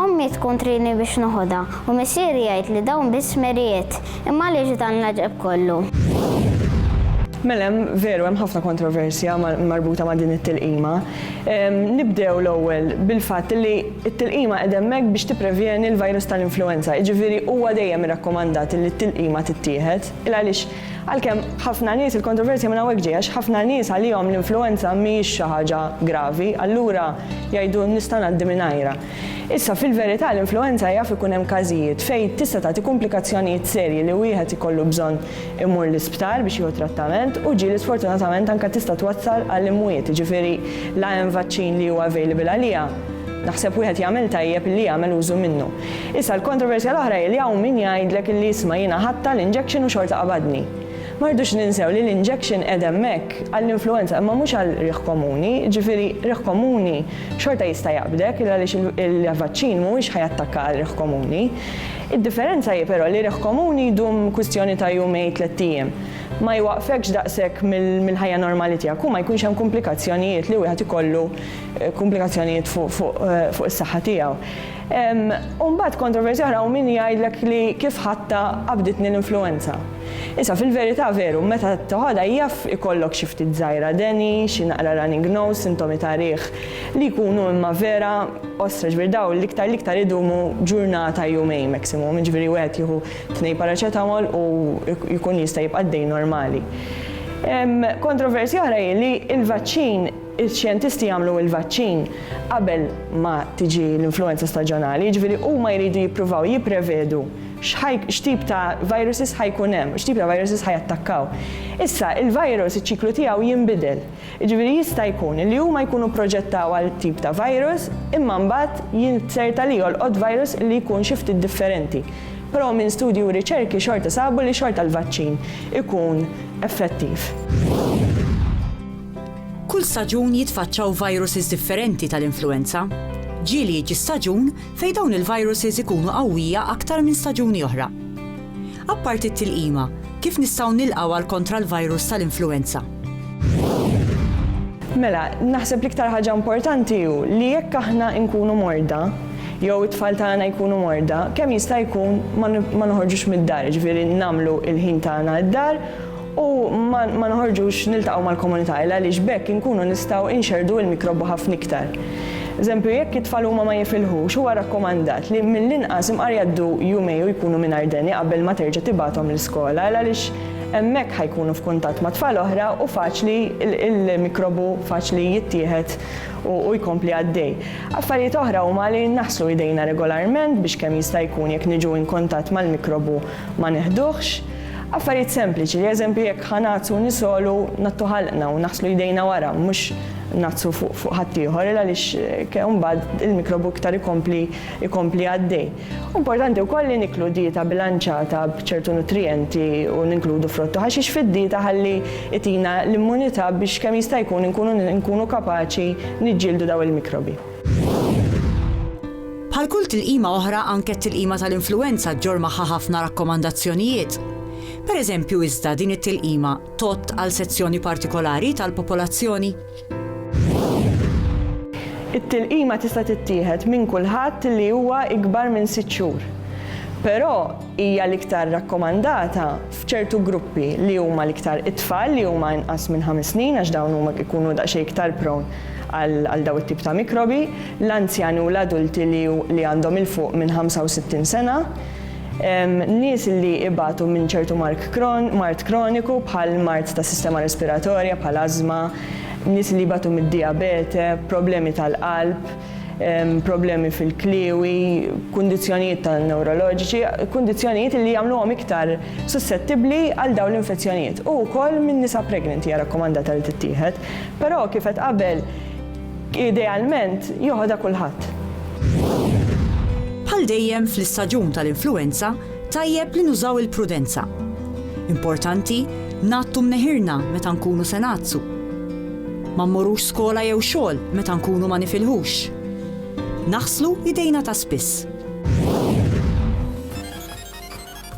Ommi tkun trini biex noħodha, u missieri jgħid li dawn biss smerijiet. Imma għaliex dan l-għaġeb kollu? Mela hemm, veru hemm ħafna kontroversja marbuta ma' din it-tilqima. Nibdew l-ewwel bil-fatt li t-tilqima qegħda hemmhekk biex tipprevjeni l-virus tal-influwenza, jiġifieri huwa dejjem irrakkomandat li t-tilqima tittieħed, il għaliex Għalkemm ħafna nies il-kontroversja minn hawnhekk ġejja għax ħafna nies għalihom l-influwenza mhijiex xi ħaġa gravi, allura jgħidu nista' ngħaddi mingħajrha. Issa, fil-verità l-influwenza jaf ikun hemm każijiet fejn tista' tagħti kumplikazzjonijiet serji li wieħed ikollu bżonn imur l-isptar biex jieħu trattament u ġieli sfortunatament anke tista' twassal għall-imwiet, jiġifieri la hemm vaċċin li hu available għaliha, naħseb wieħed jagħmel tajjeb li jagħmel użu minnu. Issa l-kontroversja l-oħra hi li hawn min jgħidlek illi isma' jiena ħadtha l-injection u xorta qabadni. Ma rridux ninsew li l-injection qiegħed hemmhekk għall-influwenza imma mhux għal riħ komuni, jiġifieri riħ komuni xorta jista' jaqbdek il għaliex il-vaċċin mhuwiex ħa jattakka għal riħ komuni. Id-differenza hi però li riħ komuni jdum kwistjoni ta' jumejn tlett ijiem. Ma jwaqqfekx daqshekk mill-ħajja normali tiegħek u ma jkunx hemm kumplikazzjonijiet li wieħed ikollu kumplikazzjonijiet fuq is-saħħa tiegħu. U mbagħad kontroversja oħra u min jgħidlek li kif ħatta qabditni l-influenza. Issa fil-verità veru, meta toħodha jaf ikollok xi ftit żgħira deni, xi naqra running nose, sintomi ta' riħ li jkunu imma vera ostra, ġifieri dawn l-iktar l-iktar idumu ġurnata jumejn maximum, jiġifieri wieħed jieħu tnejn paracetamol u jkun jista' jibqa' għaddej normali. Kontroversja oħra hi li l-vaċċin Ix-xjentisti jagħmlu l-vaċċin qabel ma tiġi l-influwenza staġjonali, jiġifieri huma jridu jippruvaw jipprevedu x'tip ta' viruses ħa jkun hemm, x'tip ta' viruses ħa jattakkaw. Issa, il-virus iċ-ċiklu tiegħu jinbidel, jiġifieri jista' jkun li huma jkunu pproġettaw għal tip ta' virus imma mbagħad jinzerta li jolqot virus li jkun xi ftit differenti. Però minn studji u riċerki xorta sabu li xorta l-vaċċin ikun effettiv. Kull staġun jitfaċċaw viruses differenti tal-influwenza. Ġieli jiġi staġun fejn dawn il-viruses ikunu qawwija aktar minn staġuni oħra. Apparti t-tilqima, kif nistgħu nilqgħu għal kontra l-virus tal-influwenza? Mela, naħseb l-iktar ħaġa importanti hu li jekk aħna nkunu morda, jew it-tfal tagħna jkunu morda, kemm jista' jkun ma noħorġux mid-dar, jiġifieri nagħmlu l-ħin tagħna d-dar, u ma noħorġux niltaqgħu mal-komunità il għaliex b'hekk inkunu nistgħu inxerrdu il-mikrobu ħafna iktar. Eżempju, jekk it-tfal huma ma jifilħux, huwa rakkomandat li mill-inqas imqar jgħaddu jumejn u jkunu mingħajr deni qabel ma terġa' tibgħathom l-iskola il għaliex hemmhekk ħa jkunu f'kuntatt ma' tfal oħra u faċli il-mikrobu faċli jittieħed u jkompli għaddej. Affarijiet oħra huma li naħslu idejna regolarment biex kemm jista' jkun jekk niġu inkuntatt mal-mikrobu ma neħduhx. Affarijiet sempliċi li eżempju jekk ħa ngħatsu nisgħolu ngħattu ħalqna u naħslu jdejna wara mhux ngħatsu fuq ħaddieħor il għaliex ke mbagħad il-mikrobu iktar ikompli ikompli għaddej. Importanti wkoll li niklu dieta bilanċata b'ċertu nutrijenti u ninkludu frott u ħaxix fid-dieta ħalli itina l-immunità biex kemm jista' jkun inkunu nkunu kapaċi niġġieldu dawn il-mikrobi. Bħal kull tilqima oħra anke t-tilqima tal-influwenza ġġorr magħha ħafna rakkomandazzjonijiet. Pereżempju iżda din it-tilqima tgħodd għal sezzjoni partikolari tal-popolazzjoni? It-tilqima tista' tittieħed minn kulħadd li huwa ikbar minn sitt xhur, però hija l-iktar rakkomandata f'ċertu gruppi li huma l-iktar it-tfal li huma inqas minn ħames snin għax dawn huma ikunu daqsxejn iktar prone għal dawn it-tip ta' mikrobi, l-anzjani u l-adulti li li għandhom 'il fuq minn 65 sena, nies li ibatu minn ċertu mark mard kroniku bħal mard tas-sistema respiratorja bħal ażma, nies li jbatu mid-dijabete, problemi tal-qalb, problemi fil-kliewi, kundizzjonijiet ta' newroloġiċi, kundizzjonijiet li jagħmluhom iktar sussettibbli għal dawn l-infezzjonijiet. U wkoll minn nisa pregnanti hija rakkomandata li tittieħed, però kif qed qabel idealment joħodha kulħadd. Bħal dejjem fl-istaġun tal-influwenza, Tajjeb li nużaw il-prudenza. Importanti ngħattu mneħirna meta nkunu se ngħattsu. Ma mmorrux skola jew xogħol meta nkunu ma nifilħux. Naħslu idejna ta' spiss.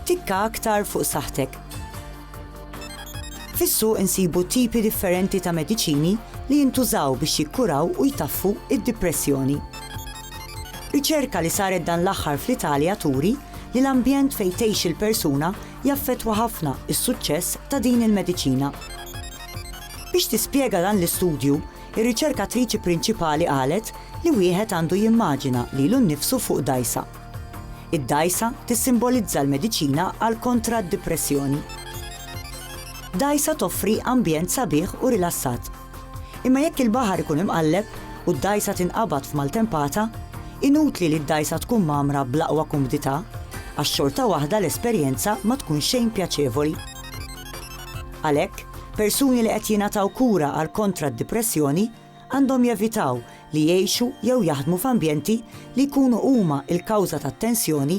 Tikka aktar fuq saħħtek. Fis-suq insibu tipi differenti ta' mediċini li jintużaw biex jikkuraw u jtaffu id-dipressjoni. Riċerka li saret dan l-aħħar fl-Italja turi li l-ambjent fejn tgħix il-persuna jaffettwa ħafna s-suċċess ta' din il-mediċina. Biex tispjega dan l-istudju, ir-riċerkatriċi prinċipali qalet li wieħed għandu jimmaġina lilu nnifsu fuq dgħajsa. Id-dgħajsa tissimbolizza l-mediċina għal kontra d-dipressjoni. Dgħajsa toffri ambjent sabiħ u rilassat. Imma jekk il-baħar ikun imqalleb u d-dgħajsa tinqabad f'maltempata, inutli li d-dgħajsa tkun mgħammra bl-aqwa kumdità, għax xorta waħda l-esperjenza ma tkun xejn pjaċevoli. Għalhekk, persuni li qed jingħataw kura għal kontra d-dipressjoni għandhom jevitaw li jgħixu jew jaħdmu f'ambjenti li jkunu huma l-kawża tat-tensjoni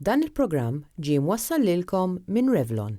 Dan il-programm ġie mwassal lilkom minn Revlon.